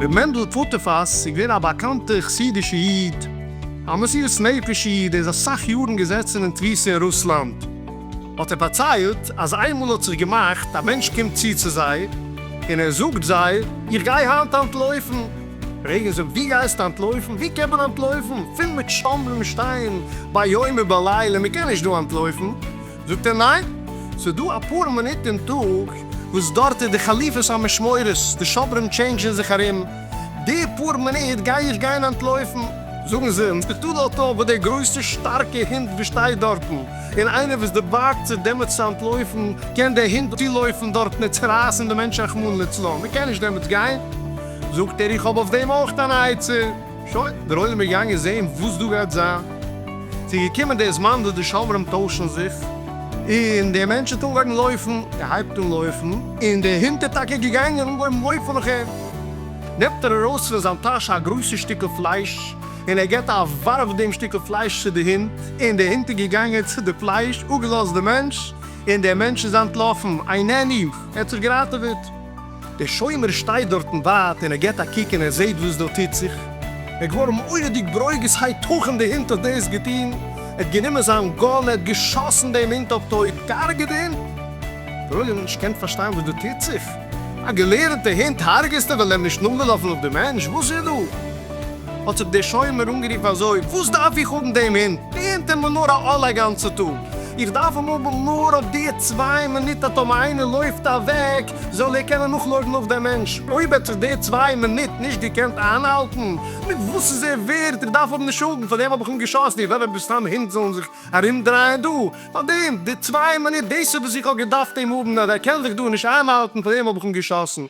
ר' מענדל פוטפוס איז געווען א באקאנטער חסידישע איד, א מסירות נפש איד, ער איז אסאך יארן געזעצן אין תפיסה אין רוסלאנד, האט ער פארציילט אז איינמאל האט זיך געמאכט א מענטש קומט צו צו זיי און ער זאגט זיי איך גיי היינט אנטלויפן, רגע זאג, דו גייסט אנטלויפן? ווי קען מען אנטלויפן? פול מיט שומרים שטייען ביום ובלילה, מען קען נישט דא אנטלויפן. זאגט ער, ניין, ס'איז דא אפאר מינוט אין טאג וואס דארט איז די חליפות המשמורות, די שומרים טשעינדזשן זיך ארום, די פאר מינוט גיי איך גיין אנטלויפן? זאגן זיי, אונז טוט דארט אויף וואס דער גרויסער שטארקע הונט וואס שטייט דארטן, און איינער וואס דערבארגט זיך דעמאלטס צו אנטלויפן, קען דער הונט צולויפן דארטן און צורייסן די מענטשן רחמנא לצלן, מען קען נישט דעמאלטס גיין. זאגט ער איך האב אויף דעם אויך אן עצה, שוין, דער עולם איז געגאנגען זעהן וואס דא גייט זיין, ס'איז געקומען דער זמן וואס די שומרים טוישן זיך, און דער מענטש האט אנגעהויבן לויפן, ער הייבט אן לויפן, און דער הונט איז טאקע געגאנגען און אנגעהויבן לויפן נאך אים, נעמט ער ארויס פון זיין טאש א גרויסע שטיקל פלייש, און ער גיבט א ווארף דעם שטיקל פלייש צו די הונט, און דער הונט איז געגאנגען צו די פלייש, אפגעלאזט די מענטש, און דער מענטש איז אנטלאפן, אינני, ער האט זיך געראטעוועט. דער שומר שטייט דארטן ווייט און ער געט א קוק און ער זעט וואס דא טוט זיך, ער איז געווארן מורא'דיג ברוגז, היתכן די הונט האט דאס געטון, ער האט גענומען זיין גאן, ער האט געשאסן דעם הונט אויף טויט, געהארגעט די הונט, דער עולם האט נישט געקענט פארשטיין וואס דא טוט זיך, א געלערנטע הונט הארגעסטו ווייל ער איז נישט נאכגעלאפן אויף די מענטש, וואס איז דא? האט זיך דער שומר אנגערופן אזוי, וואס דארף איך האבן דעם הונט, די הונט איז מיר נאר א עול א גאנצע טאג, איך דארף אים האבן נאר אויף די צוויי מינוט אטאמאיינער לויפט אוועק, זאל ער קענען נאכלויפן אויף דעם מענטש, אויב האט זיך די צוויי מינוט נישט געקענט איינהאלטן, מיט וואס איז ער ווערד? איך דארף האבן די שולדן, פאר דעם האב איך אים געשאסן, איך וויל עפעס סתם הינט זאלן זיך ארומדרייען דא, פאר דעם, די צוויי מינוט, דאס איז וואס איך האב געדארפט אים האבן, אז ער קען זיך דא נישט איינהאלטן, פאר דעם האב איך אים געשאסן.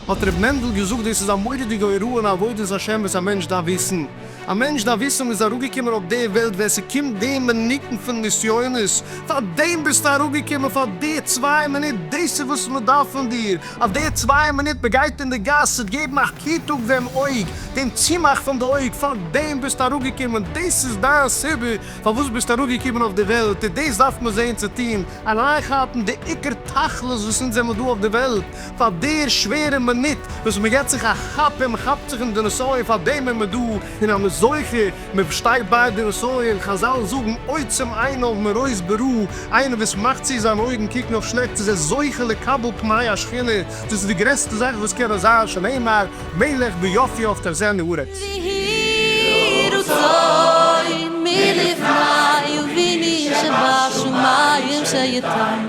האט ר' מענדל געזאגט, דאס איז א מורא'דיגע הוראה אין עבודת השם וואס א מענטש דארף וויסן, א מענטש דארף וויסן מ'איז אראפגעקומען אויף די וועלט ווען ס'קומט די מינוטן פון נסיונות, פארדעם ביסטו אראפגעקומען פאר די צוויי מינוט, דאס איז וואס מ'דארף פון דיר, אויף די צוויי מינוט מ'גייט אין די גאס ס'וועט געבן א היט אויף דעם אויג, דעם צומאך פון די אויג, פארדעם ביסטו אראפגעקומען, דאס איז דיין סיבה פארוואס ביסטו אראפגעקומען אויף די וועלט, און דאס דארף מען זען צו טון, אריינכאפן די עיקר תכלית וואס אונז זעמער דא אויף די וועלט, פאר דער שווערע מינוט וואס מען געט זיך א כאפ און מען כאפט זיך אין די נסיון פאר דעם איז מען דא און אז מען איז זוכה מען פארשטייט ביי די נסיון חזל זאגן עוצם עיניו מראות ברא איינער וואס מאכט צו זיין אויגן קוקן אויף שלעכטס איז ער זוכה לקבל פני השכינה דאס איז די גרעסטע זאך וואס קען נאר זיין שנאמר מלך ביופיו תחזינה ארץ. ויהי רצון מלפני וביני שבשמים שיתן